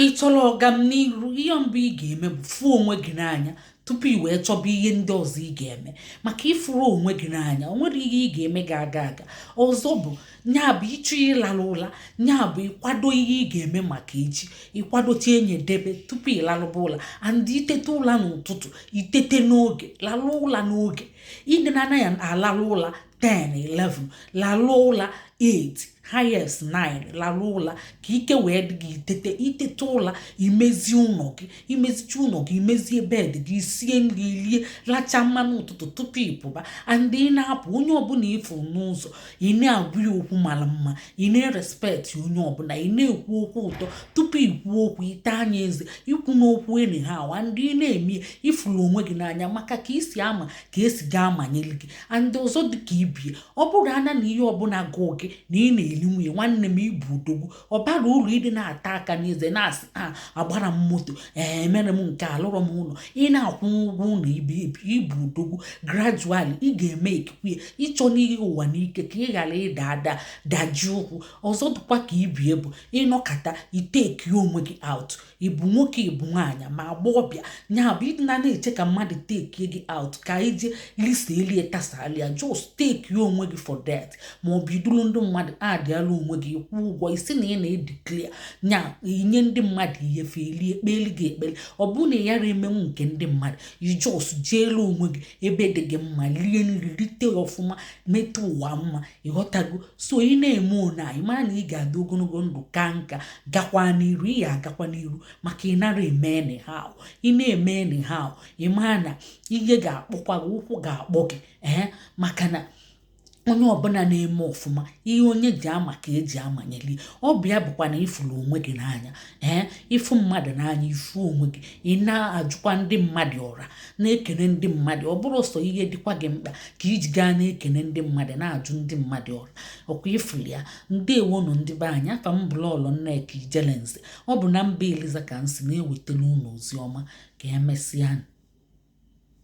ị chọrọ ọganiru ihe mbụ ị ga-eme bụ fụọ onwe gị n'anya tupu ị wee chọba ihe ndị ọzọ ị ga-eme maka ịfụrọ onwe gị n'anya o nwerọ ihe ị ga-eme gị aga aga ọzọ bụ nya bụ ịchọ ịlarụ ụla nya bụ ịkwado ihe ị ga-eme maka echi ịkwadocha nya debe tupu ị larụba ụla and itete ụla n'ụtụtụ itete n'oge larụ ụla n'oge ịdị na anaghị alarụ ụla 10 11 lalụ ụla 8 highest 9 lalụ ụla ka ike wee dị gị itete itete ụla imezi ụlọ gị imezicha ụlọ gị imezie bed gị sie nri rie lacha mmanụ ụtụtụ tupu ịpụba and ị na-apụ onye ọbụla ịfụ n'ụzọ ị na-agwa ya okwu mara mma ị na-erespect onye ọbụla ị na-ekwu okwu ụtọ tupu ikwu okwu ịtaa nya eze ikwuna okwu anyhow and ị na-eme ifuru onwe gị n'anya maka ka isi ama ka esi ga-amanyeli gị and ọzọ dịka ibie ọ bụrụ ana na ihe ọbụla gụọ gị na ị na-eli nwunye nwanne m ị bụ odogwu ọ bara uru ịdịna ata aka n'eze na-asị a ah, agbara m moto ee eh, emere m nke alụrọ m ụlọ ị na-akwụ ụgwọ ụlọ ibe ị bụ odogwu gradually ị ga-emakekwu ya ịchọna ihe ụwa n'ike ka ị ghara ịda ada daji ụkwụ ọzọ dịkwa ka ibie bụ ịnọkata ị takie onwe gị out ịbụ nwoke ịbụ nwaanyị ma agbọghọbịa nya bụ ịdịna na-eche ka mmadụ take gị out ka ije lisa elie tasalia just takie onwe gị for that ma ọ bụ iduru ndị mmadụ adịala onwe gị ị kwụọ ụgwọ ị sị na ị na-edeclare nya inye ndị mmadụ ihe fe elie ekpeli gị ekpele ọ bụrụ na ị yara emenwu nke ndị mmadụ ị just jeelu onwe gị ebe dị gị mma lie nri lite ọfụma metụ ụwa mma ịghọtago so ị na-eme one a ị maa na ị ga-adị ogologo ndụ kaa nka gakwa n'iru ị ya-agakwa n'iru maka ị nara eme anyhow ị na-eme anyhow ị maa na ihe ga-akpọkwa gị ụkwụ ga-akpọ gị ee eh, maka na onye ọbụla na-eme ọfụma ihe onye ji ama ka eji amanyelie ọ bụ ya bụkwa na ịfụrụ onwe gị n'anya ee eh, ịfụ mmadụ n'anya ịfụ onwe gị ị na-ajụkwa ndị mmadụ ọra na-ekene ndị mmadụ ọ bụrọ sọ ihe dịkwa gị mkpa ka iji gaa na-ekene ndị mmadụ na-ajụ ndị mmadụ ọra ọkwa ịfụlụ ya ndeewo nụ ndị be anyị afa m bụ lọọlọ nneka ijelenze ọ bụ na mba eliza ka m si na-ewetara unu ozi ọma ka emesịa